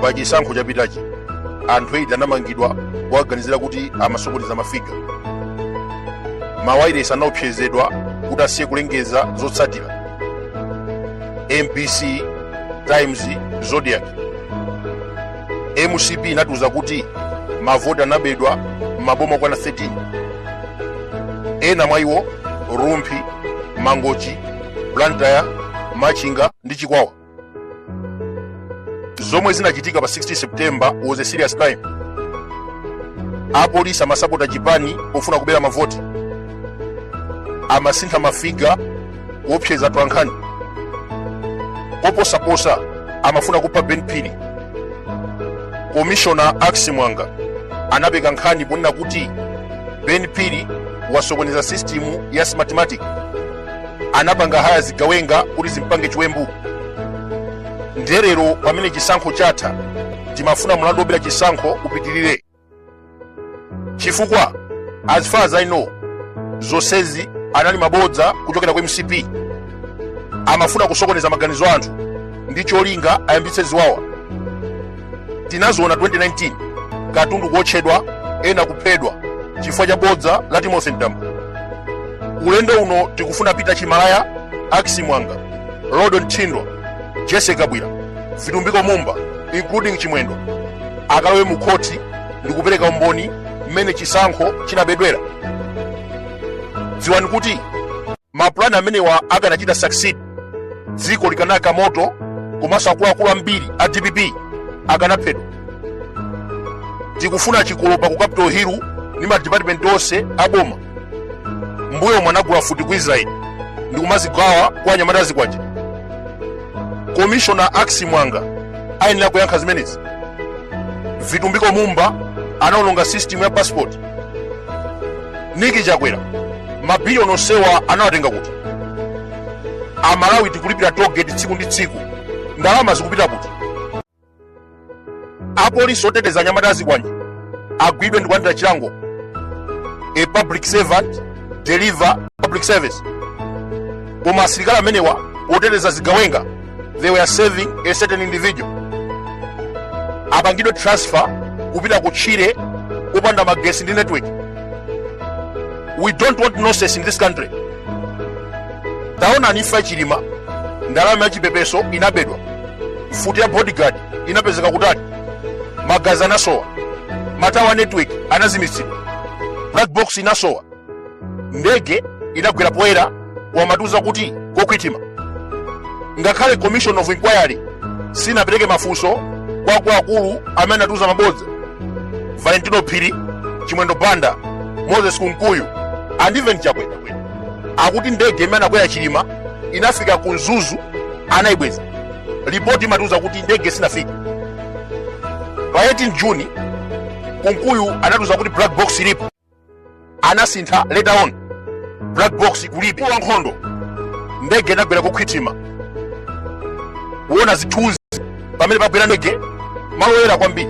pa chisankho chapitachi anthu 8 anamangidwa kuwaganizira kuti amasokoneza mafiga mawayilesi anaopsezedwa kuti asiye kulengeza zotsatira mbc times zodiac mcp inatiuza kuti mavoti anabedwa m'maboma okwana 13 ena mwa iwo rumphi mangochi blantyre machinga ndi chikwawa zomwe zinachitika pa 16 september was a serious crime apolisi amasapota chipani pofuna kubera mavoti amasintha mafiga kuopseza atolankhani koposaposa amafuna kupha ben phiri komishona axi mwanga anapeka nkhani ponena kuti ben phiri wasokoneza sistimu ya smartmatic anapanga haya zigawenga kuti zimpange chiwembu ndiye lero pamene chisankho chatha timafuna mlandu wobera chisankho upitirire chifukwa as far as i know zonsezi anali mabodza kuchokera ku mcp amafuna kusokoneza maganizo a anthu ndi cholinga ayambitse ziwawa tinaziona 2019 katundu kuotchedwa ena kuphedwa chifukwa cha bodza la timothy mtambo ulendo uno tikufuna peter chimalaya axi mwanga rodon thindwa jesse kabwira vitumbiko mumba including chimwendo akalowe mu khoti ndi kupereka umboni mmene chisankho chinabedwera dziwani kuti mapulani amenewa akanachita succeed dziko likanaka moto komanso akuluakulu ambiri a dpp akanaphedwa tikufuna chikolopa ku capital hill ndi madipatimenti onse aboma muja munagula mfuti ku israeli ndikumazigawa kwa anyamata azikwanje komishona axi mwanga ayenera kuyankha zimenezi vitumbiko mumba anaononga system ya passport nick chakwera mabiliyoni onsewa anawatenga kuti amalawi tikulipira tollgate tsiku ndi tsiku ndalama zikupita kuti apolisi oteteza anyamata azikwanje agwidwe ndi kulandira chilango a public servant deliver public service koma asilikali amenewa oteteza zigawenga they were serving a certain individual apangidwe transfer kupita kutchire kopanda magesi ndi network we don't want nonsense in this country taonani imfa ya chilima ndalama ya chipepeso inabedwa mfuti ya bodyguard inapezeka kutali magazi anasowa matawa network anazimitsidwa black box inasowa ndege inagwera poyera kumatiuza kuti kokhwitima ngakhale commission of inquiry sinapereke mafunso kwa akuluakulu amene anatiuza mabodza valentino phiri chimwendo banda moses kunkuyu and even chakwera akuti ndege imene anakwera chilima inafika ku mzuzu anayibweza ripoti imatiuza kuti ndege sinafika pa 18 juni kunkuyu anatiuza kuti black box ilipo anasintha later on black box kulibe wa nkhondo ndege inagwera ku thick timber kuona zithunzi pamene pagwera ndege malo oyera kwambiri